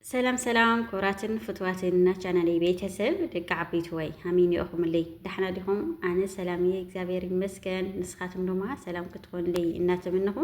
ሰላም ሰላም ክብራትን ፍትዋትን ናቻናለይ ቤተሰብ ደቂ ዓበይቲ ወይ ሃሚን ይኦኹምለይ ዳሕና ዲኹም ኣነ ሰላም እየ እግዚኣብሔር ይመስገን ንስኻትም ድማ ሰላም ክትኾንለይ እናተመነኹ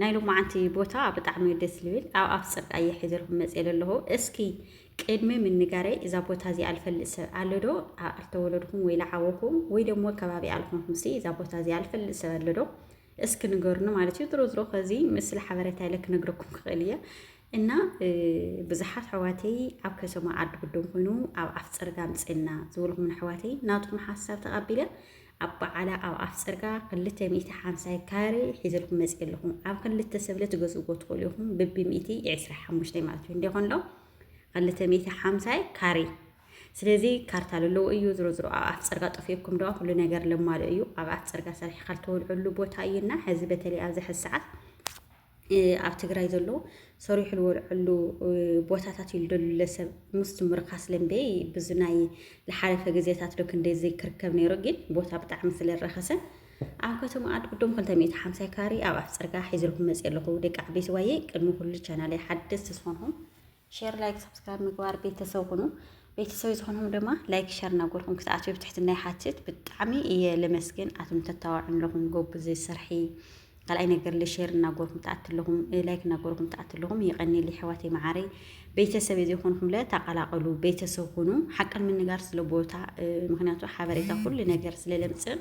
ናይ ሎማዓንቲ ቦታ ብጣዕሚ ደስ ዝብል ኣብ ኣፍ ፅርቅ ኣየ ሒዘልኩም መፅ ዘለኹ እስኪ ቅድሚ ምንጋረይ እዛ ቦታ እዚኣ ዝፈልጥ ሰብ ኣሎ ዶ ኣልተወለድኩም ወይ ለዓወኩም ወይ ደሞ ከባቢ ኣልኮንኩም ሲ እዛ ቦታ እዚኣ ዝፈልጥ ሰብ ኣሎ ዶ እስኪ ንገሩኒ ማለት እዩ ድሮ ዝሮ ከዚ ምስሊ ሓበሬታ ኢለ ክነግረኩም ክኽእል እየ እና ብዙሓት ኣሕዋተይ ኣብ ከተማ ዓዲ ጉዶም ኮይኑ ኣብ ኣፍ ፅርጋ ምፅና ዝበልኩም ኣሕዋተይ ናትኩም ሓሳብ ተቐቢለ ኣብ በዓላ ኣብ ኣፍ ፅርጋ ክልተ ሚእቲ ሓምሳይ ካሬ ሒዘልኩም መፅ ኣለኹም ኣብ ክልተ ሰብለ ትገዝእዎ ትኽእሉ ኢኹም ብቢ ሚእቲ ዕስራ ሓሙሽተ ማለት እዩ እንዲኾን ዶ ክልተ ሚእቲ ሓምሳይ ካሬ ስለዚ ካርታ ዘለዎ እዩ ዝሮ ዝሮ ኣብ ኣፍ ፅርጋ ጠፊኡኩም ደዋ ኩሉ ነገር ለማልእ እዩ ኣብ ኣፍ ፅርጋ ሰሪሕካ ዝተወልዐሉ ቦታ እዩና ሕዚ በተለይ ኣብዚ ሕዚ ሰዓት ኣብ ትግራይ ዘሎ ሰሪሑ ልወልዐሉ ቦታታት እዩ ልደሉ ለሰብ ምስ ምርካስ ለምበይ ብዚ ናይ ልሓለፈ ግዜታት ዶ ክንደይ ዘይክርከብ ነይሩ ግን ቦታ ብጣዕሚ ስለ ረኸሰ ኣብ ከተማ ኣድ ቅድም 250 ካሪ ኣብ ኣፍ ፅርጋ ሒዝልኩም መፅ ኣለኹ ደቂ ዓበይቲ ዋየ ቅድሚ ኩሉ ቻናለይ ሓደስቲ ዝኾንኹም ሼር ላይክ ሰብስክራይብ ምግባር ቤተሰብ ሁኑ። ቤተሰብ ዝኾንኩም ድማ ላይክ ሸር ናጎርኩም ክትኣትዩ ብትሕትና ይሓትት። ብጣዕሚ እየ ለመስግን ኣቶም ተታዋዕም ለኹም ጎብዝ ስርሒ ካልኣይ ነገር ለሼር እናጎርኩም ትኣት ኣለኹም ላይክ እናጎርኩም ትኣት ኣለኹም የቐኒል ይሕዋት መዓረይ ቤተሰብ የዘይኮንኩም ለ ተቐላቐሉ ቤተሰብ ሁኑ። ሓቅን ምንጋር ስለ ቦታ ምክንያቱ ሓበሬታ ኩሉ ነገር ስለ ለምፅእ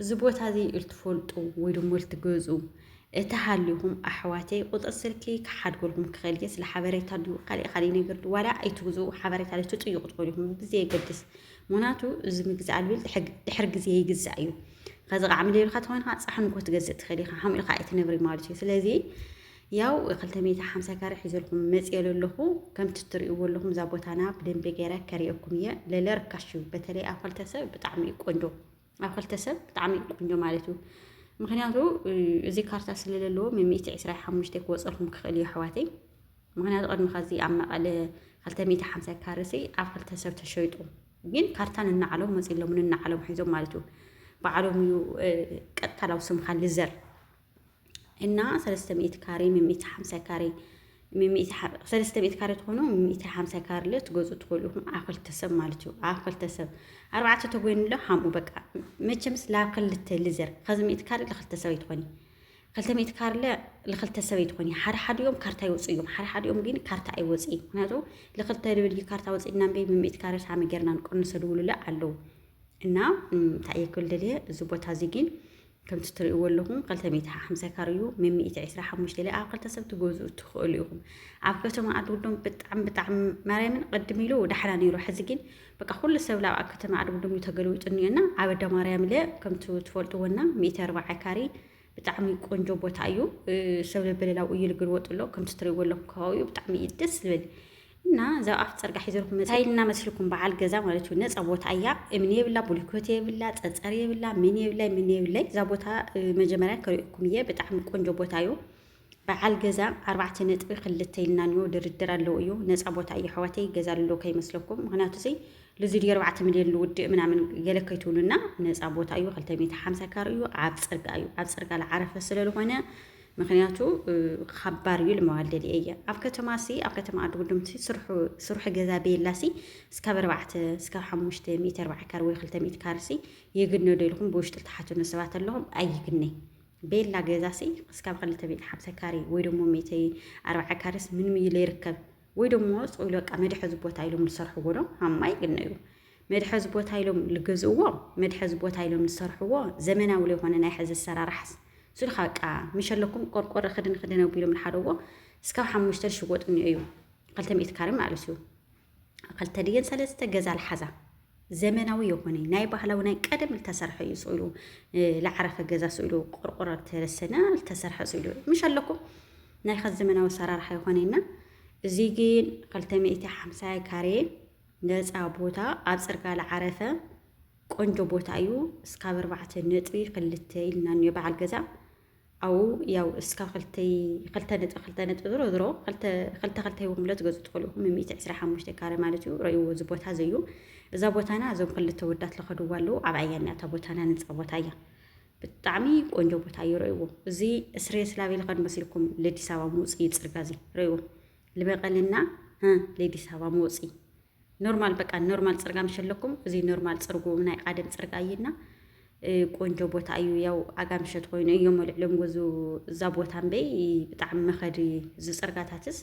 እዚ ቦታ እዚ እትፈልጡ ወይ ድማ እትገዙ እተሃሊኹም ኣሕዋተይ ቁፅሪ ስልኪ ክሓድገልኩም ክኽእል እየ ስለ ሓበሬታ ድዩ ካሊእ ካሊእ ነገር ድዩ ዋላ ኣይትግዙ ሓበሬታ ድዩ ትጥይቁ ትኽእሉ ኢኹም ብዘየገድስ ምክንያቱ እዚ ምግዛእ ኣልቢል ድሕር ግዜ ይግዛእ እዩ ከዚ ከዓ ምልልካ ተኮይንካ ፃሕን እኮ ትገዝእ ትኽእል ኢኻ ሓምኡ ኢኻ ኣይትነብሪ ማለት እዩ ስለዚ ያው ክልተ ሚእቲ ሓምሳ ካሬ ሒዘልኩም መፅኤ ለለኹ ከምቲ እትሪእዎ ኣለኹም እዛ ቦታና ብደንቢ ገይረ ከሪኤኩም እየ ለለ ርካሽ እዩ በተለይ ኣብ ክልተ ሰብ ብጣዕሚ እዩ ቆንጆ ኣብ ክልተ ሰብ ብጣዕሚ እዩ ቆንጆ ማለት እዩ ምክንያቱ እዚ ካርታ ስለለለዎ ሚእቲ ዕስራ ሓሙሽተ ክወፀልኩም ክኽእል እዩ ኣሕዋተይ ምክንያቱ ቅድሚ ከዚ ኣብ መቐለ ክልተ ሚእቲ ሓምሳ ካርሲ ኣብ ክልተ ሰብ ተሸይጡ ግን ካርታ ንናዓሎም መፂሎም ንናዓሎም ሒዞም ማለት እዩ በዓሎም እዩ ቀጥታ ናብ ስምካ ልዘር እና ሰለስተ ሚእቲ ካሬ ሚሚእቲ ሓምሳ ካሬ ሚሚእቲ ሰለስተ ሚእቲ ካሬ ትኾኑ ሚሚእቲ ሓምሳ ካሬ ለ ትገዙ ትኽእሉ ኢኹም ኣብ ክልተ ሰብ ማለት እዩ ኣብ ክልተ ሰብ ኣርባዕተ ተጎይኑ ለ ሓምኡ በቃ መቸምስ ላብ ክልተ ልዘር ከዚ ሚእቲ ካሬ ለክልተ ሰብ ኣይትኾኒ ክልተ ሚእቲ ካሬ ለ ለክልተ ሰብ ኣይትኾኒ ሓደ ሓዲኦም ካርታ ይወፁ እዮም ሓደ ሓዲኦም ግን ካርታ ኣይወፅ ምክንያቱ ለክልተ ልብል እዩ ካርታ ወፅእና እምበይ ሚሚእቲ ካሬ ሳሚ ገርና ንቀንሰ ድውሉ ለ ኣለዉ እና እንታይ እየ ክብል ደልየ እዚ ቦታ እዚ ግን ከምቲ ትርእይዎ ኣለኹም ክልተ ሚእቲ ሓምሳ ካሬ እዩ ም ሚእቲ ዕስራ ሓሙሽተ ኢለ ኣብ ክልተ ሰብ ትገዝኡ ትኽእሉ ኢኹም ኣብ ከተማ ኣድጉዶም ብጣዕሚ ብጣዕሚ ማርያምን ቅድም ኢሉ ዳሕና ነይሩ ሕዚ ግን በቃ ኩሉ ሰብ ላብ ኣብ ከተማ ኣድጉዶም እዩ ተገልዊጡ እኒኦና ኣብ ኣዳ ማርያም ኢለ ከምቲ ትፈልጥዎና ሚእቲ ኣርባዓ ካሬ ብጣዕሚ ቆንጆ ቦታ እዩ ሰብ ለበለላው እዩ ልግልወጡ ኣሎ ከምቲ ትርእይዎ ኣለኹም ከባቢኡ ብጣዕሚ እዩ ደስ ዝብል እና እዛ ኣፍ ፅርጋ ሒዘልኩም መፅ ታይ እና መስልኩም በዓል ገዛ ማለት እዩ ነፃ ቦታ እያ እምኒ የብላ ቡሊኮት የብላ ፀፀር የብላ ምን የብላይ ምን የብላይ እዛ ቦታ መጀመርያ ከሪእኩም እየ ብጣዕሚ ቆንጆ ቦታ እዩ በዓል ገዛ ኣርባዕተ ነጥቢ ክልተ ኢልና ኒዮ ድርድር ኣለዉ እዩ ነፃ ቦታ እዩ ኣሕዋተይ ገዛ ኣሎ ከይመስለኩም ምክንያቱ ዚ ልዚ ድዩ ኣርባዕተ ሚልዮን ልውድእ ምናምን ገለ ከይትብሉና ነፃ ቦታ እዩ ክልተ ሚእቲ ሓምሳ ካር እዩ ኣብ ፅርጋ እዩ ኣብ ፅርጋ ዝዓረፈ ስለዝኮነ ምክንያቱ ኻባር እዩ ልመዋል ደልየ እየ ኣብ ከተማ ሲ ኣብ ከተማ ኣዲ ጉዱምቲ ስርሑ ስርሑ ገዛ ቤላ ሲ ስካብ ኣርባዕተ ስካብ ሓሙሽተ ሚእቲ ኣርባዕተ ካር ወይ ክልተ ሚእቲ ካር ሲ ይግነ ዶ ኢልኩም ብውሽጢ ልትሓቱኒ ሰባት ኣለኹም ኣይግነ ቤላ ገዛ ሲ ስካብ ክልተ ሚእቲ ሓምሳ ካሪ ወይ ደሞ ሚእቲ ኣርባዕተ ካርስ ምንም እዩ ለይርከብ ወይ ደሞ ጽውሉ በቃ መድሐዚ ቦታ ኢሎም ዝሰርሕዎ ዶ ሃማ ይግነ እዩ መድሐዚ ቦታ ኢሎም ልገዝእዎ መድሐዚ ቦታ ኢሎም ልሰርሕዎ ዘመናዊ ለይኮነ ናይ ሐዚ ኣሰራርሓስ ስሉካ በቃ ምሸለኩም ቆርቆረ ክድን ክድን ኣቢሎም ልሓደዎ እስካብ ሓሙሽተ ልሽወጥ እኒኦ እዩ ክልተ ሚእቲ ካሬ ማለት እዩ ክልተ ድየን ሰለስተ ገዛ ልሓዛ ዘመናዊ የኮነ ናይ ባህላዊ ናይ ቀደም ልተሰርሐ እዩ ስኢሉ ልዓረፈ ገዛ ስኢሉ ቆርቆሮ ተረሰና ልተሰርሐ ስኢሉ ምሽ ኣለኩም ናይ ከዚ ዘመናዊ ኣሰራርሓ ይኮነና እዚ ግን ክልተ ሚእቲ ሓምሳ ካሬ ነፃ ቦታ ኣብ ፅርጋ ልዓረፈ ቆንጆ ቦታ እዩ እስካብ ኣርባዕተ ነጥቢ ክልተ ኢልና እኒኦ በዓል ገዛ ኣብኡ ያው እስካብ ክልተይ ክልተ ነጥቢ ክልተ ነጥቢ ዝሮ ዝሮ ክልተ ክልተ ክልተ ሂቦም ለ ትገዙ ትኽእሉ ኢኹም ሚእቲ ዕስራ ሓሙሽተ ካረ ማለት እዩ ረእይዎ እዚ ቦታ እዚ እዩ እዛ ቦታና እዞም ክልተ ወዳት ለኸድዋ ኣለዉ ኣብ ዓያና እታ ቦታና ነፃ ቦታ እያ ብጣዕሚ ቆንጆ ቦታ እዩ ረእይዎ እዚ ስሬ ስላቤ ልኸድ መስልኩም ለዲስ ኣበባ ምውፅ እዩ ፅርጋ እዚ ረእይዎ ልበቀልና ህ ለዲስ ኣበባ መውፂ ኖርማል በቃ ኖርማል ፅርጋ ምሸለኩም እዚ ኖርማል ፅርጉ ናይ ቃደም ፅርጋ እዩና ቆንጆ ቦታ እዩ። ያው ኣጋምሸት ኮይኑ እዮም ልዕሎም ገዙ እዛ ቦታ እምበይ ብጣዕሚ መኸዲ እዚ ፅርጋታትስ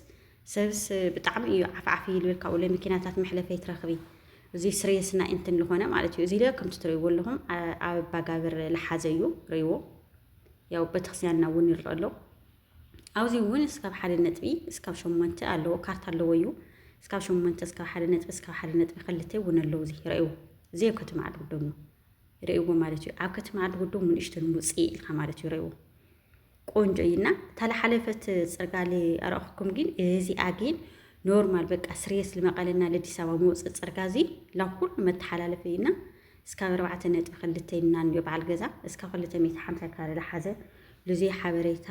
ሰብስ ብጣዕሚ እዩ ዓፍዓፍ ይልብል ካብኡ ለመኪናታት መሕለፈይ ትረኽቢ እዚ ስሬስና እንትን ዝኾነ ማለት እዩ እዚ ለ ከምቲ ትርእይዎ ኣለኹም ኣብ ኣባጋብር ልሓዘ እዩ ርእይዎ ያው ቤተክርስቲያንና እውን ይረአ ኣሎ ኣብዚ እውን እስካብ ሓደ ነጥቢ እስካብ ሸሞንተ ኣለዎ ካርታ ኣለዎ እዩ እስካብ ሸሞንተ እስካብ ሓደ ነጥቢ እስካብ ሓደ ነጥቢ ክልተ እውን ኣለዉ እዚ ረእይዎ እዚ ኣብ ከተማ ዓዲ ጉዶም እዩ ረእይዎ ማለት እዩ ኣብ ከተማ ዓዲ ጉዶም ንእሽተን ውፅእ ኢልካ ማለት እዩ ረእይዎ ቆንጆ እዩና እታ ዝሓለፈት ፅርጋሊ ኣረእኹኩም ግን እዚኣ ግን ኖርማል በቃ ስሬስ ልመቐለና ለዲስ ኣበባ መውፅእ ፅርጋ እዚ ላኩሉ መተሓላለፊ እዩና እስካብ ኣርባዕተ ነጥቢ ክልተ ይምናን እዮ በዓል ገዛ እስካብ ክልተ ሚእቲ ሓምሳ ካረ ለሓዘ ሉዙይ ሓበሬታ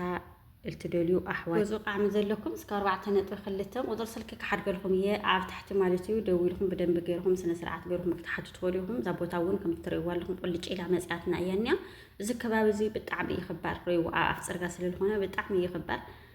እልትደልዩ ኣሕዋት ገዙ ቃዕሚ ዘለኩም እስካብ ኣርባዕተ ነጥቢ ክልተ ቁፅሪ ስልኪ ክሓድገልኩም እየ ኣብ ታሕቲ ማለት እዩ ደዊልኩም ብደንቢ ገርኩም ስነ ስርዓት ገርኩም ክትሓቱ ትኸዱ ኢኹም እዛ ቦታ እውን ከምቲ ትርእይዋ ኣለኹም ቁልጭ ኢላ መፅያትና እያ እኒኣ እዚ ከባቢ እዚ ብጣዕሚ ይኽባር ርእይዎ ኣብ ኣፍ ፅርጋ ስለዝኾነ ብጣዕሚ ይኽባር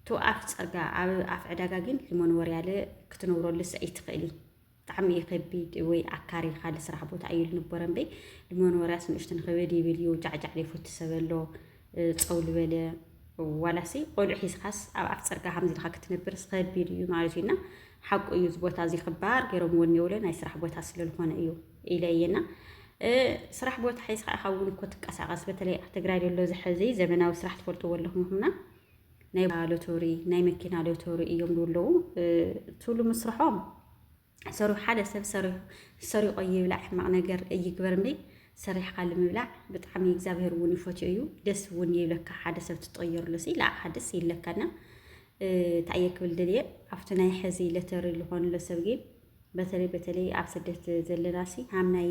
እቱ ኣፍ ፀርጋ ኣብ ኣፍ ዕዳጋ ግን ሂሞን ወርያለ ክትነብረሉ ሰ ይትኽእሊ ብጣዕሚ እዩ ከቢድ ወይ ኣካሪ ካልእ ስራሕ ቦታ እዩ ልንቦረ እምበይ ልሞን ወርያስ ንእሽቱ ንኸበድ ይብል እዩ ጃዕጃዕ ዘይፈቱ ሰብ ኣሎ ፀው ልበለ ዋላሲ ቆልዑ ሒዝኻስ ኣብ ኣፍ ፀርጋ ከምዚ ኢልካ ክትነብርስ ከቢድ እዩ ማለት እዩና ሓቁ እዩ እዚ ቦታ እዚ ክባር ገይሮም ወን የብለ ናይ ስራሕ ቦታ ስለዝኾነ እዩ ኢለ እየና ስራሕ ቦታ ሒዝካ ኢኻ እውን እኮ ትንቀሳቐስ በተለይ ኣብ ትግራይ ዘሎ ዝሐዚ ዘመናዊ ስራሕ ትፈልጥዎ ኣለኹም ይኹምና ናይ ሎቶሪ ናይ መኪና ሎቶሪ እዮም ዝብለዉ ትብሉ ምስርሖም ሰሪሑ ሓደ ሰብ ሰሪቆ ይብላዕ ሕማቅ ነገር እይግበር እንዲ ሰሪሕካ ንምብላዕ ብጣዕሚ እግዚኣብሄር እውን ይፈትዮ እዩ ደስ እውን ይብለካ ሓደ ሰብ ትጠየርሉ ሲ ንዓኻ ደስ ይብለካና እንታይ እየ ክብል ደልየ ኣብቲ ናይ ሕዚ ለተሪ ዝኾንሎ ሰብ ግን በተለይ በተለይ ኣብ ስደት ዘለና ሲ ሃም ናይ